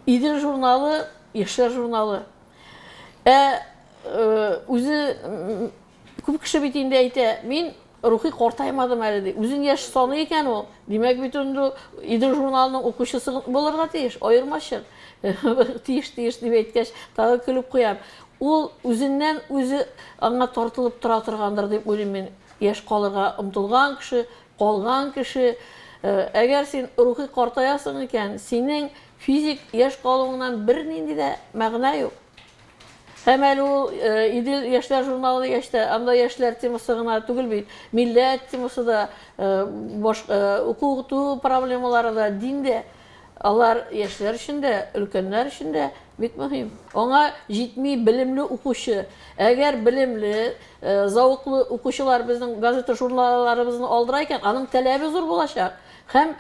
Идел журналы, яшьләр журналы. Ә үзе күп кеше бит инде әйтә, мин рухи картаймадым әле ди. Үзен яшь саны икән ул. Димәк бит инде Идел журналының укучысы булырга тиеш, аермачык. Тиеш, тиеш дип әйткәч, тагы көлеп куям. Ул үзеннән үзе аңа тартылып тора торгандыр дип уйлыйм мин. Яшь калырга омтылган кеше, Калган кеше, Әгәр син рухи картаясың икән, синең физик яшь калуыңнан бернинди дә мәгънә юк. Һәм әле ул Идел яшьләр журналы дигәч тә, анда яшьләр темасы гына түгел бит, милләт темасы да, уку-укыту проблемалары да, дин дә, алар яшьләр өчен дә, өлкәннәр өчен дә, Бик мөһим. Аңа җитми белемле укучы. Әгәр белемле, зәвыклы укучылар безнең газета-журналларыбызны алдыра икән, аның таләбе зур булачак. Һәм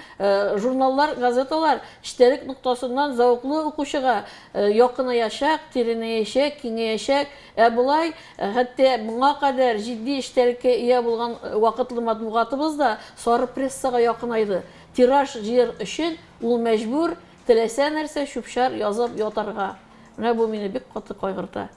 журналлар, газеталар эчтәлек ноктасыннан зәвыклы укучыга якынаячак, тирәнәячәк, киңәячәк. Ә болай, хәтта моңа кадәр җитди эчтәлеккә ия булган вакытлы матбугатыбыз да сары прессага якынайды. Тираж җыяр өчен ул мәҗбүр Теләсә нәрсә чүп-чар язып ятарга. Менә бу мине бик каты кайгырта.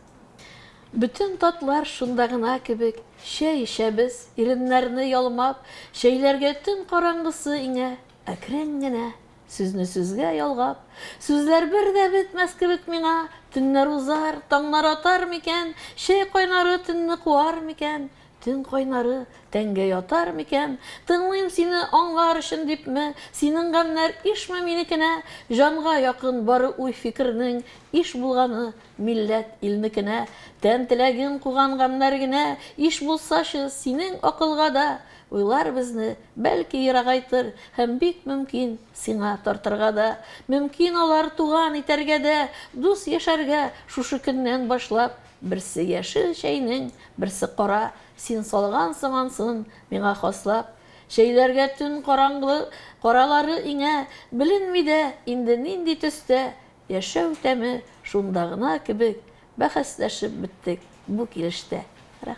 Бөтен татлар шунда гына кебек, чәй эчәбез, иреннәрне ялмап, чәйләргә төн караңгысы иңә, әкрен генә, сүзне сүзгә ялгап, сүзләр бер дә бетмәс кебек миңа, төннәр узар, таңнар атар микән, чәй кайнары төнне куар микән, Төн кайнары тәнгә ятар микән? Тыңлыйм сине аңлар өчен дипме? Синең гамьнәр ишме минекенә? Җанга якын бары уй-фикернең, Иш булганы милләт, илнекенә. Тән теләген куган гамьнәр генә, Иш булсачы, синең акылга да. Уйлар безне, бәлки, ерагайтыр, Һәм бик мөмкин, сиңа тартырга да. Мөмкин алар туган итәргә дә, Дус яшәргә шушы көннән башлап. Берсе яшел чәйнең, берсе кара, Син салгансың ансын миңа хаслап. Чәйләргә төн караңгы каралары иңә, Беленми дә инде нинди төстә. Яшәү тәме шунда гына кебек, Бәхәсләшеп беттек бу килештә.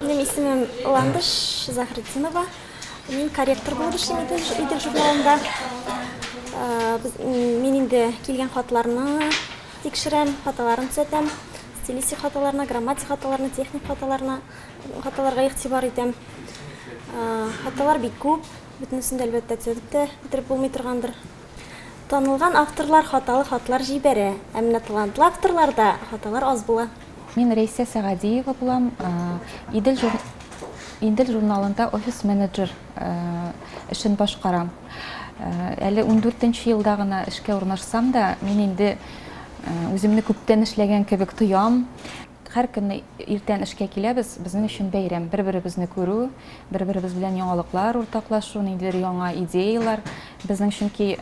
Минем исемем Ландыш Заһретдинова. Мин корректор булып эшлим Идел журналында. Мин инде килгән хатларны тикшерәм, хаталарын төзәтәм. Стилистик хаталарына, грамматик хаталарына, техник хаталарына, хаталарга игътибар итәм. Хаталар бик күп, бөтенесен дә әлбәттә төзәтеп тә бетереп булмый торгандыр. Танылган авторлар хаталы хатлар җибәрә, ә менә талантлы авторларда хаталар аз була. Мин Рәйсә Сәгадиева булам. Идел Идел журналында офис-менеджер эшен башкарам. Әле ундүртенче елда гына эшкә урнашсам да, мин инде үземне күптән эшләгән кебек тоям. Һәркөнне иртән эшкә киләбез, безнең өчен бәйрәм. Бер-беребезне күрү, бер-беребез белән яңалыклар уртаклашу, ниндидер яңа идеяләр. Безнең чөнки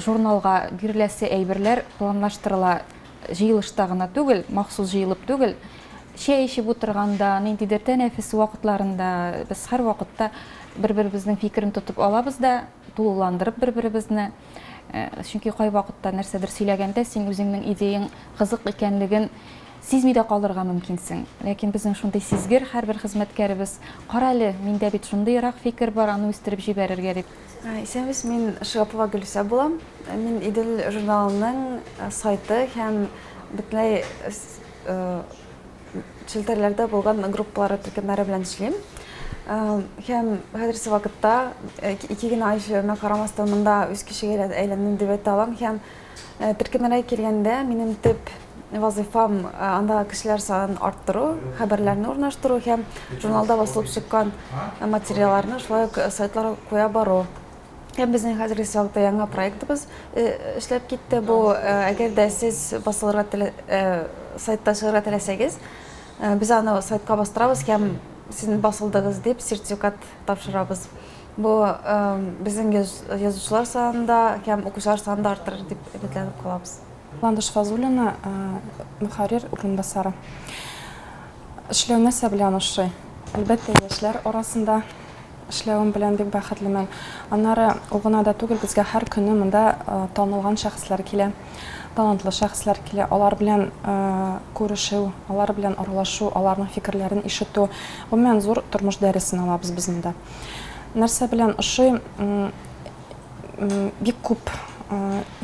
журналга биреләсе әйберләр планлаштырыла. Җыелышта гына түгел, махсус җыелып түгел, чәй эчеп утырганда, ниндидер тәнәфес вакытларында без һәрвакытта бер-беребезнең фикерен тотып алабыз да, тулыландырып бер-беребезне. Чөнки кайвакытта нәрсәдер сөйләгәндә син үзеңнең идеяң кызык икәнлеген сизми дә калырга мөмкинсең. Ләкин безнең шундый сизгер һәрбер хезмәткәребез, карале, миндә бит шундыйрак фикер бар, аны үстереп җибәрергә дип. Ә, Исәнбез, мин Шигапова Гөлүсә булам. Ә, Мин Идел журналының ә, сайты һәм бөтенләй с- э, челтәрләрдә булган группалары төркемнәре белән эшлим. Ә, Һәм хәзерге вакытта э, ике генә ай эшләвемә карамастан монда үз кешегә әйләндем дип әйтә алам һәм Э, төркемнәргә килгәндә минем төп вазыйфам э, андагы кешеләр санын арттыру хәбәрләрне урнаштыру һәм журналда басылып чыккан э, материалларны шулай ук сайтларга куя бару һәм безнең хәзерге чакта яңа проектыбыз эшләп китте бу әгәр дә сез басылырга телә сайтта чыгарга теләсәгез без аны сайтка бастырабыз һәм сез басылдыгыз дип сертификат тапшырабыз Бу безнең язучылар санында һәм укучылар санында артыр дип өметләнеп калабыз. Ландыш Фазуллина, мөхәррир урынбасары. Эшләү нәрсә белән ошый? Әлбәттә, яшьләр арасында эшләвем белән бик бәхетлемен. Аннары ул гына да түгел, безгә һәр көнне монда танылган шәхесләр килә, талантлы шәхесләр килә. Алар белән күрешү, алар белән аралашу, аларның фикерләрен ишетү, гомумән, зур тормыш дәресен алабыз без монда. Нәрсә белән ошый? Бик күп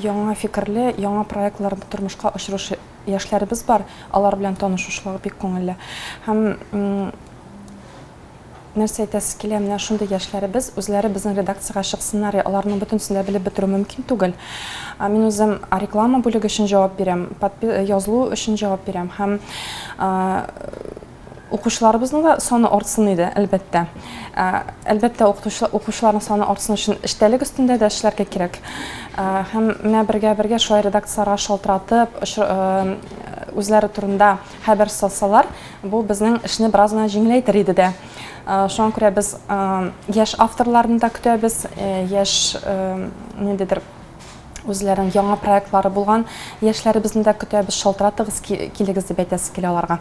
яңа фикерле, яңа проектлар тормышка ашыручы яшьләребез бар. Алар белән танышушлыгы бик күңелле. Һәм нәрсә әйтәсе килә, менә шундый яшьләребез үзләре безнең редакциягә чыксыннар, аларның бөтенесен дә белеп бетерү мөмкин түгел. Мин үзем реклама бүлеге өчен җавап бирәм, язылу өчен җавап бирәм һәм Укучыларыбызның да саны артсын иде, әлбәттә. Ә, әлбәттә, укучыларның саны артсын өчен эчтәлек өстендә дә эшләргә кирәк. Ә, һәм менә бергә-бергә шулай редакцияләргә шалтыратып, үзләре турында хәбәр салсалар, бу безнең эшне бераз гына җиңеләйтер иде дә. Шуңа күрә без яшь авторларны да көтәбез, яшь ниндидер үзләренең яңа проектлары булган яшьләребезне дә көтәбез, шалтыратыгыз, килегез дип әйтәсе килә аларга.